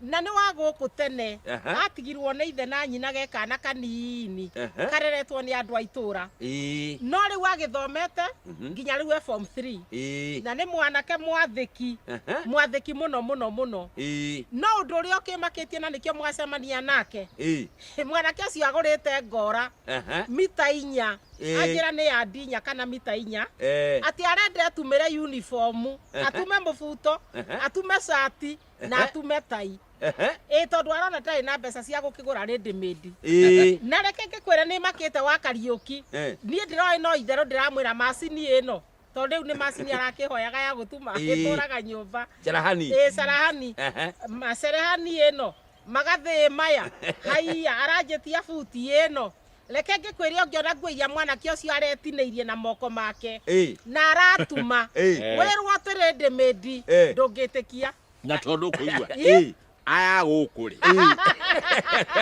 na nĩ wa gũkũ tene Aha. gatigirwo nĩ ithe na nyina ge kana kanini Aha. kareretwo nĩ andũ a itũra Ĩĩ. no rĩu agĩthomete Mhm. nginya rĩu e form 3 Ĩĩ. na nĩ mwanake mwathĩki Aha. mwathĩki mũno mũno mũno Ĩĩ. no ũndũ ũrĩa ũkĩmakĩtie na nĩkĩo mwacemania nake Ĩĩ. mwanake ũcio agũrĩte ngora Aha. mita inya Ĩĩ. anjĩra nĩ ya ndinya kana mita inya Eh. atĩ arenda atumĩre uniform Aha. atume mũbuto Aha. atume cati na Ehe. atume tai Ehe. ĩ tondũ arona ndarĩ na mbeca cia gũkĩgũra rĩndĩmĩndi Ĩĩ. na reke ngĩkwĩre nĩ makĩte wa kariũki Eh. niĩ ndĩroĩ no itherũ ndĩramwĩra macini ĩno tondũ rĩu nĩ macini arakĩhoyaga ya gũtuma Ĩĩ. ĩtũraga nyũmba Jarahani. ĩ carahani Ehe. macerehani ĩno magathĩ maya haiya aranjĩtia buti ĩno Reke ngĩkwĩre ũngĩona nguo iria mwanake ũcio aretinĩirie na moko make Ĩĩ. na aratuma Ĩĩ. wĩrwo atĩrĩ ndĩ mĩndi Ĩĩ. ndũngĩtĩkia na tondå kå igua Ĩĩ. aya gå kå rä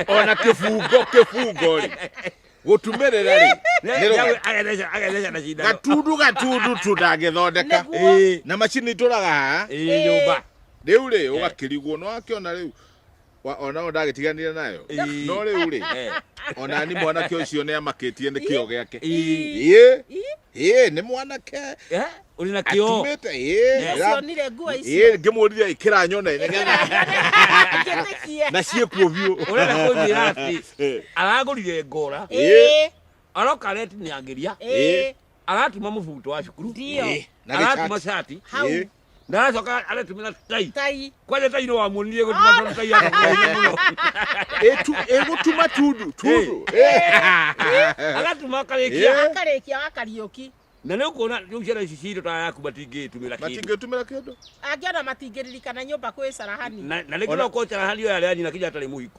ona kä bungo kä bungo rä gå tumä rä ra rä Nyawe agetheca- agetheca na cindano. gatundu gatundu tu ndangä thondeka Nĩguo. Ĩĩ. na macini itå raga Ĩĩ, nyũmba. rä u rä å gakä rigwo nä wakä ona rä u Wa- ona yo ndagĩtiganire nayo Ĩĩ. no rĩu rĩ Eh, ona ni mwanake ũcio nĩ amakĩtie nĩ kĩo gĩake ĩĩ. ĩĩ ĩĩ nĩ mwanake Eh, ũrĩ na kĩo atumĩte ĩĩ ra- cionire nguo ĩĩ icio ngĩmũrire ĩkĩra nyone nĩgetha Njĩtĩkie. na ciĩkuo biũ ũrenda kũnjĩra atĩ Eh, aragũrire ngora Ĩĩ, aroka aretinia ngĩria ĩĩ, aratuma mũbuto wa cukuru ndio. Ĩĩ, na aratuma gĩcati cati hau Ĩĩ. ndacoka aratumira tai tai kwaria tai no wamuonirie gutuma tondu tai akakugeithia muno Etu egutuma tundu tundu. agatuma akarikia akarĩkia wa kariũki na nä å kuona rä u ciana ici citå ta yaku matingä tumä ra kä Matingetumira kindu. angĩona matingĩririkana nyũmba kwĩ carahani na rä ngä Ona- no kocera harä oya rä anyina kinya atarä må hiku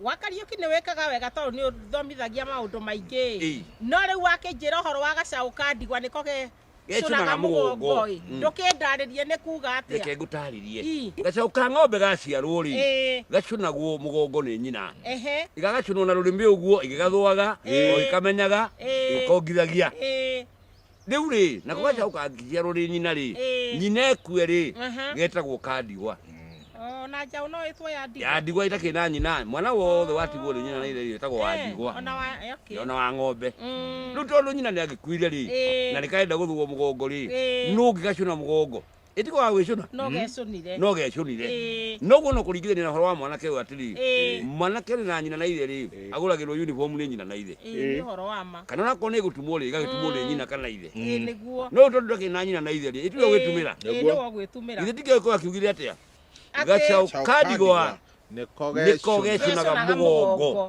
wa Kariuki nĩ wĩkaga wega tondũ nĩ ũthomithagia maũndũ maingĩ ĩ Ĩ. no rĩu wakĩnjĩra ũhoro wa gacaũ ka ndigwa nĩko ge Gecũnaga cũnaga mũgongo mũgongo. ĩ Mm. ndũkĩndarĩrie nĩ kuga reke atĩa ngũtarĩrie Ii. gacaũ ka ng'ombe gaciarwo rĩ Ĩ. gacũnagwo mũgongo nĩ nyina ehe igagacũnwo na rũrĩmĩ ũguo igĩgathũaga Ĩ. o ikamenyaga Ĩ. ikongithagia ĩ Rĩu rĩ, na gũgacau kangĩciarwo rĩ nyina rĩ, Ĩĩ. nyina ekue rĩ, Aha. getagwo ka ndigwa. Oh, na njaũ no ĩtwo ya ndigwa. Ya ndigwa itakĩrĩ na nyina, mwana wothe watigwo nĩ nyina na ithe etagwo wa Eh, ndigwa. Ona wa, eh, okay. Ona wa ng'ombe. Mm. Rĩu tondũ nyina nĩ agĩkuire rĩ, Ĩĩ. na nĩkarenda gũthũgwo mũgongo rĩ, Ĩĩ. nũ ũngĩgacũna mũgongo? ĩtiko wa gwĩcũna no gecũnire no gecũnire Ĩĩ. noguo no kũringithania na ũhoro wa mwanake ũyũ atĩrĩ Ĩĩ. mwanake ũrĩ na nyina na ithe rĩ Ĩĩ. agũragĩrwo uniform nĩ nyina na ithe Ĩĩ, nĩ ũhoro wa ma kana onakorwo nĩ gũtumwo rĩ gagĩtumwo nĩ nyina kana ithe Ĩĩ, nĩguo no tondũ ndakĩ na nyina na ithe rĩ ĩtirĩ gwĩtumĩra Ĩĩ, Nĩguo. nĩwe ũgwĩtumĩra ithe tikĩoĩ ko akiugire atĩa Atĩ- gacaũ Chao kandigwa nĩko nĩko gecũna gecũnaga Gecũnaga mũgongo mũgongo.